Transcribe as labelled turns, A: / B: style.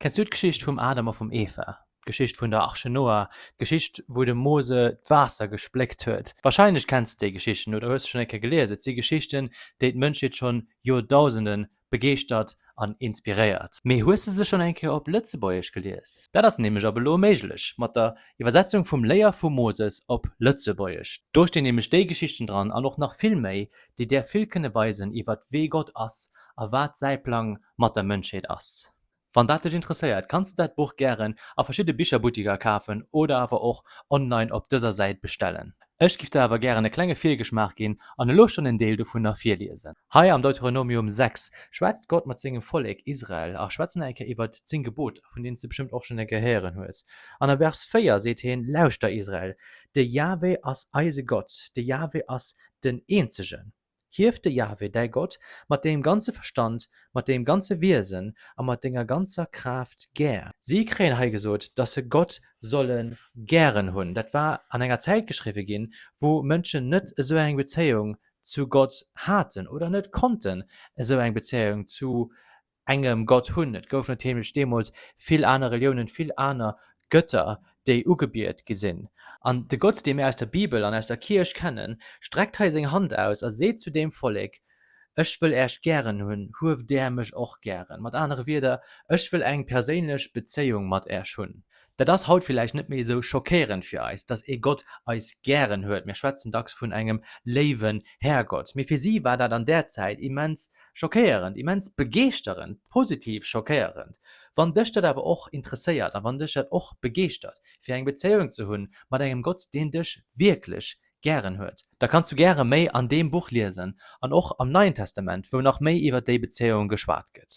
A: Kenns du d'Geschicht vum Adam a vum Eva, d'Geschicht vun der Arche Noah, d'Geschicht wou de Mose d'Waasser gespléckt huet? Warscheinlech kenns de déi Geschichten oder hues se schonn eng Kéier gelies. Et si Geschichten, déi d'Mënschheet schonn Joerdausende begeeschtert an inspiréiert. Mee hues de se schonn eng Kéier op Lëtzebuergesch gelies? Dat ass nämlech ab elo méiglech mat der Iwwersetzung vum Léier vu Moses op Lëtzebuergesch. Do stinn nämlech déi Geschichten dran an och nach vill méi, déi där vill kënne weisen iwwert wee Gott ass a wat säi Plang mat der Mënschheet ass. Wann dat dech interesséiert, kanns de dat Buch gären a verschidde Bicherbuttiker kafen oder awer och online op dëser Säit bestellen. Ech giff der awer gären e klenge Virgeschmaach ginn an elo schonn en Deel dovunner virliesen. Hei am Deuteronomium 6 schwätzt Gott mat sengem Vollek Israel a schwätzt nach eng Kéier iwwert d'Zéng Geboter, vun deenen s de bestëmmt och schonn eng Kéier héieren hues. An am Vers 4 seet hien, Lauschter Israel, de Jahwe ass eise Gott, de Jahwe ass den Eenzegen. Hief de Jahwe, däi Gott, mat deem ganze Verstand, mat deem ganze Wiesen a mat denger ganzer Kraaft gär. Si kréien hei gesot, dass se Gott solle gären hunn. Dat war an enger Zäit geschriwwe ginn, wou Mënschen net esou eng Bezéiung zu Gott haten oder net konnten esou eng Bezéiung zu engem Gott hunn. Et goufen net heemlech deemools vill aner Reliounen, vill aner Gëtter, déi ugebiet gi sinn. An de Gott, dee mir aus der Bibel an aus der Kierch kennen, streckt hei seng Hand aus a seet zu deem Vollek, Ech wëll äech gären hunn, hueft där mech och gären. Mat anere Wierder, Ech wëll eng perséinlech Bezéiung mat äech hunn. Dat ass haut villäicht net méi esou schockéierend fir eis, dass ee Gott eis gären huet, mir schwätzen dacks vun engem léiwen Härgott, mee fir si war dat an där Zäit immens schockéierend, immens begeeschterend, positiv schockéierend. Wann dech dat awer och interesséiert a wann dech dat och begeeschtert, fir eng Bezéiung ze hunn mat engem Gott, deen dech wierklech gären huet, da kanns du gäre méi an deem Buch liesen an och am Neien Testament, wou nach méi iwwer déi Bezéiung geschwat gëtt.